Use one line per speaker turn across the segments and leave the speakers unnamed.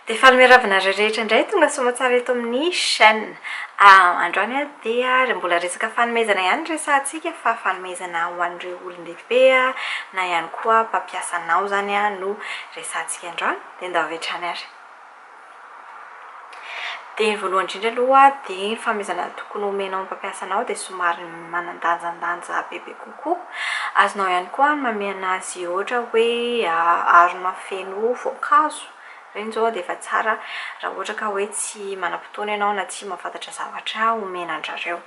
Dia faly miarahaba anareo rehetra indray tonga soamatsara eto amin'ny chaîne. Androany dia mbola resaka fanomezana ihany no resahantsika fa fanomezana ho an'ireo olon-dehibe na ihany koa mpampiasanao izany no resahantsika androany dia ndao avy hatrany ary. Dia ny voalohany indrindra aloha dia ny fanomezana ny tokony homenao ny mpampiasa anao dia somary manan-danjandanja bebe kokoa. Azonao ihany koa ny manome an'azy ohatra hoe harona feno voankazo. Ireny izao dia efa tsara raha ohatra ka hoe tsy manam-potoana ianao na tsy mahafantatra zavatra omena an-dry zareo.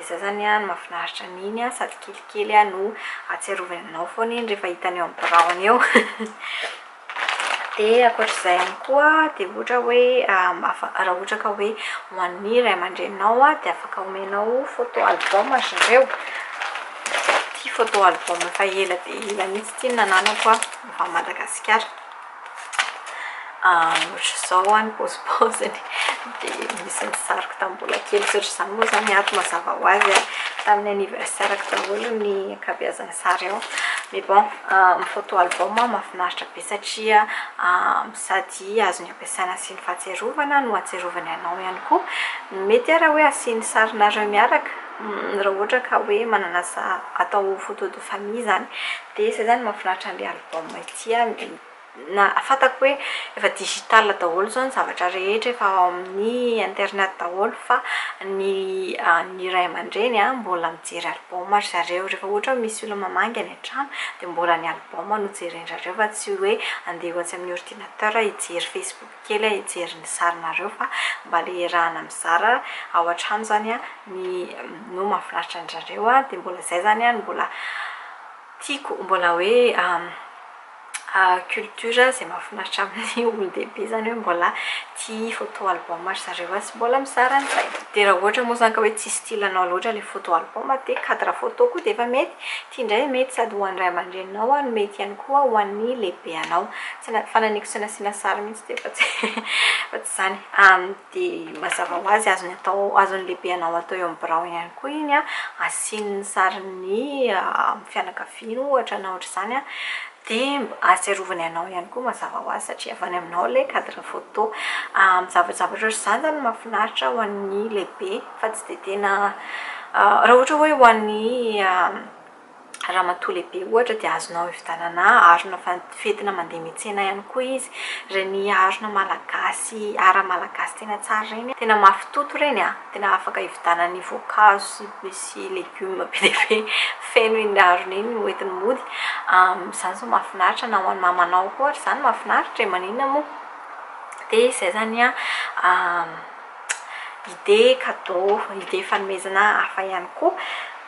Ny sasany an mafinaritra an iny an sady kelikely an no atsiarovany anao foana iny rehefa hitany eo amin'ny biraony eo dia ankoatr'izay ihany koa dia ohatra hoe raha ohatra ka hoe ho an'ny ray aman-dreninao an dia afaka omenao photo album ry zareo ity photo album efa ela dia ela mihitsy ity no nananako an efa Madagasikara Ohatr'izao ho'a ny paozipaoziny, dia misy ny sariko tamin'ny mbola kely tsy ohatr'izany moa izany ny ato mazava ho azy an! Tamin'ny anniversaire-ko daholo ny ankabeazan'ny sary ao. Mais bon, ny photo album mahafinaritra be satria sady azony ampiasaina asiany fahatsiarovana no ahatsiarovany anao ihany koa. Mety àry hoe asiany sarinareo miaraka, raha ohatra ka hoe manana sa- atao photo de famille izany. Dia izay izany no mahafinaritra an'ilay album. Vao maintsy ihany dia nahafantako hoe efa digital daholo izao ny zavatra rehetra, efa ao amin'ny internet daholo fa ny ny ray aman-dreny mbola mijery album ry zareo. Rehefa ohatra hoe misy olona mamangy any an-trano dia mbola ny album no jeren-drazreo fa tsy hoe handeha ho atsy amin'ny ordinateur hijery facebook kely aho hijery ny sarinareo fa mba ilay iarahana mizara ao an-trano izany no mahafinaritra an-dry zareo dia mbola izay izany no mbola Tiako mbola hoe culture izay mahafinaritra amin'ny olon-dehibe izany hoe mbola tia photo album ry zareo an, sy mbola mizara an'izay. Dia raha ohatra moa izany ka hoe tsy style anao loatra ilay photo album dia cadre photo koa dia efa mety. Ity indray mety sady ho an'ny ray aman-dreninao no mety ihany koa ho an'ny lehibeanao. Tsy na- fanahiniako tsy nasiana sary mihitsy ity fa tsy fa tsy izany. dia mazava ho azy azony atao azon'ny lehibe anao atao eo amin'ny birao ihany koa iny an, asiany ny sarin'ny fianakaviany ohatra na ohatr'izany an, dia ahatsiarovany anao ihany koa mazava ho azy satria avy any aminao ilay cadre photo. Amin'ny zavajavatra ohatr'izany izany no mahafinaritra ho an'ny lehibe fa tsy dia tena raha ohatra hoe ho an'ny Ramatoa lehibe ohatra dia azonao hividianana harona fentina mandeha miantsena ihany koa izy, ireny harona malagasy ara malagasy tena tsara ireny, tena mafy toto ireny an! tena afaka hividianana ny voankazo sy legioma be dia be feno iny harona iny no entiny mody, izany izao mahafinaritra na ho an'i mamanao koa ary izany mahafinaritra e! maninona moa? dia izay izany an idée cadeau, idée fanomezana hafa ihany koa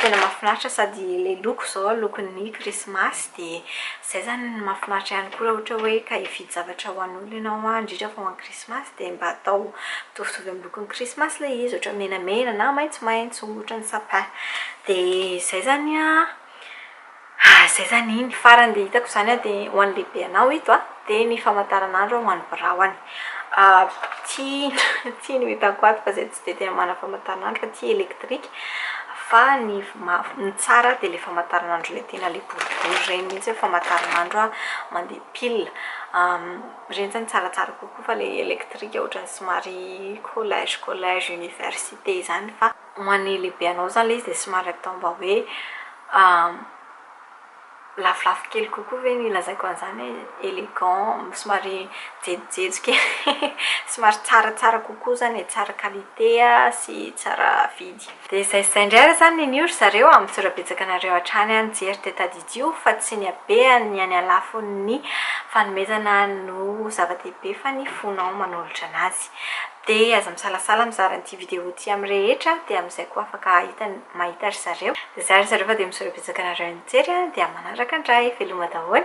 Tena mahafinaritra sady ilay loko izao lokon'ny krismasy dia izay izany no mahafinaritra ihany koa raha ohatra hoe ka hividy zavatra ho an'olona ianao an, indrindra fa ho an'ny krismasy dia mba atao mitovitovy amin'ny lokon'ny krismasy ilay izy, ohatra menamena na maitsomaitso, ohatran'ny sapin. Dia izay izany an, Ah zay zany iny farany dia hitako zany an dia ho an'ny lehibe anao ito an dia ny famataranandro ho an'ny birao any ty ty no hitako ato fa zay tsy dia tena manana famataranandro fa ty elektrika fa ny ny tsara dia ilay famataranandro ilay tena ilay boribory ireny mihintsy hoe famataranandro an mandeha pile ireny zany tsaratsara kokoa fa ilay elektrika ohatran'ny somary collège collège université zany fa ho an'ny lehibe anao izany ilay izy dia somary atao mba hoe lafolafo kely kokoa ve ny lazaiko an'izany hoe élégant, somary jejojejo kely, somary tsaratsara kokoa izany e, tsara qualité sy tsara vidy. Dia izay sy izay indray ary izany neny io ry zareo amin'ny zora-betsaka anareo hatrany aho nijery dia tadidio fa tsy ny habeany ny any alafon'ny fanomezana no zava-dehibe fa ny fonao manolotra an'azy. Dia aza misalasala mizara an'ity vidéo ity amin'ny rehetra dia amin'izay koa afaka hahita ny mahita ry zareo. Zah ry zareo fa dia misaotra betsaka anareo nijery dia manaraka ndray veloma daholo e.